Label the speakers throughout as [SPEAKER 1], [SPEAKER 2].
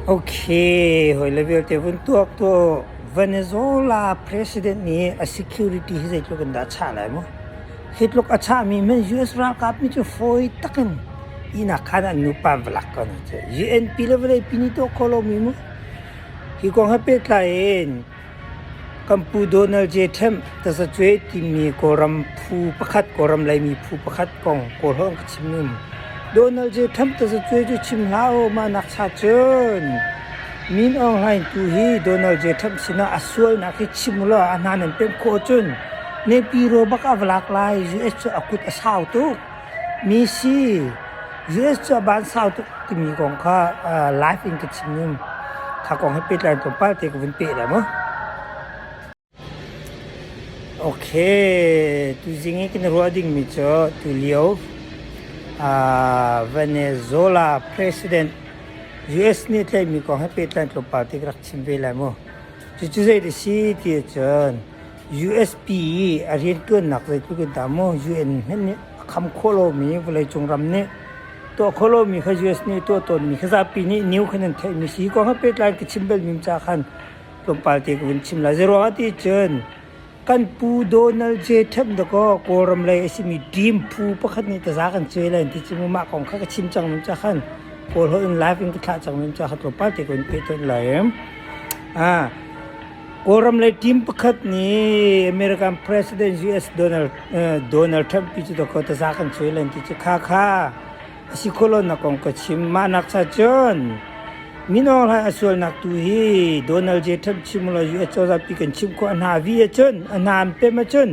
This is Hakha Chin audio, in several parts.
[SPEAKER 1] Ok, hawile vialte vun tuak tuah. Venezuela president nih a security hi zeitluk in dah a chah lai maw? Hi tluk a chahmi hmanh US ralkap nih cu fawi tak in ihnak khaan ah an nupa an va lak ko hna cu. UNP le vawleipi nih tuah khawh lomi maw? Hi kong he pehtlai in Kan Pu Donald J. Trump tazacueh timi Kawlram phu pakhat, Kawlram Laimi phu pakhat kong Kawlholh an ka chim ning. Donald J. Trump tazacueh cu chim hlah u, mah nak cha cun Min Aung Hlaing tu hi Donald J. Trump sinah a sualnak hi chim u law a hna nan pemh khawh cun nehpi rawbak ah va lak lai, US cu a kut a sau tuk. Misi, US cu a ban sau tuk timi kong kha live in ka chim i kha kong he pehtlai tu palte ka vun peh lai maw? Ok, tuzing i kan ruah dingmi cu tulio Venezuela president US nih tlaihmi kong he pehtlai tlawmpal te ka rak chim ve lai maw? Cucu zei a si ti ahcun USP i a rianṭuannak zeitluk in dah maw UN hmanh nih a kham khawh lomi vawleicung ram nih tuah khawh lomi kha US nih tuah tawnmi kha zapi nih new khan an theih mi si ko nga pehtlai ka chim bel mi ca khan tlawmpal te ka vun chim lai zeruangah ti cun kan pu Donald J Trump da kaw Kawlram lei a simi dream phu pakhat nih taza kan cuai lai ti cu mah kong kha ka chim cang ning ca khan Kawl ho in live in ka thlah cang ning ca kha tlawmpal te ka vun pehtonh lai em a Kawlram lei team pakhat nih American President US Donald Donald Trump pi cu dawkhaw taza kan cuai len ti cu kha kha a si khawh lonak kong ka chim. Mah nak cha cun minawng hlai a sualnak tu hi Donald J. Trump chim lo US cozah pi kan chimh khawh a hna vi ahcun a hna an pem ahcun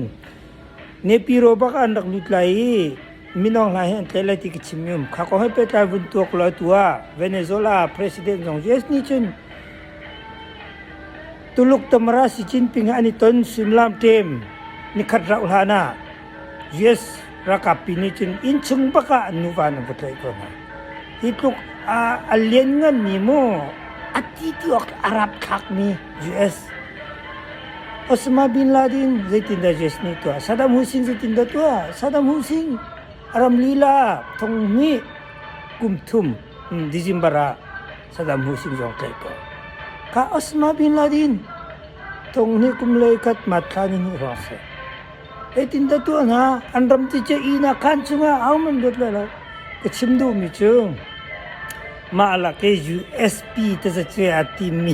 [SPEAKER 1] Nepiro bak ah an rak lut lai i minong hna hi an tlaih lai ti ka chim i um. Kha ko he pehtlai vun tuak law atu ah Venezuela president zong US nih cun Tuluk Tamara Xi Jinping he an i ton suimilam ṭem nikhat rauh hlan ah US ralkap pi nih cun innchung bak ah nuva an vut loih ko hna. Hi tluk ah a liannganmi maw a ṭih ti awk a rapthlakmi US Osama bin Laden zeitindah Jesus nih a tuah? Saddam Hussein zeitindah a tuah? Saddam Hussein a ram lila ah thong hnih kum thum December ah Saddam Hussein zong tlaih ko. Ka Osama bin Laden thong hnih kum le khat mathla nan hmuh hrawng seh. Zeitindah tuah hna? An ram tice ihnak khan chungah ahohmanh luat lai lo. Ka chim duhmi cu mah lak i USP tazacuai aa timmi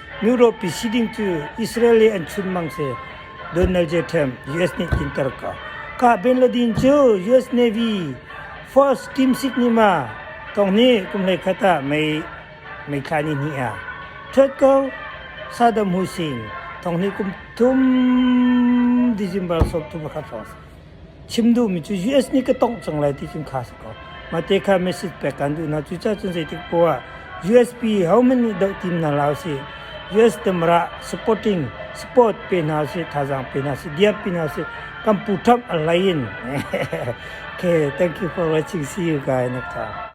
[SPEAKER 1] Europe i si ding cu Israel i an chunmang si Donald J. Trump US nih tlinter ka kahben le din cu US Navy false team sik nih ma tong nih kum hlei khat ah mei mei thla ni hnih a ṭhuat ko Saddam Hussein thong nih kum thum December sawmthum a khat hrawng si. chim duhmi cu US nih ka tongh cang lai ti cun kha a si ko. Mah te kha message pek kan duh hna. Cucaahcun zeitik poah ah USP hohmanh nih doh tim hna hlah usih. US temrah supporting support pe hna usih, thazaang pe hna usih, diap pe hna usih. Kan pu ṭhap a hlei in. okay, thank you for watching. See you guys next time.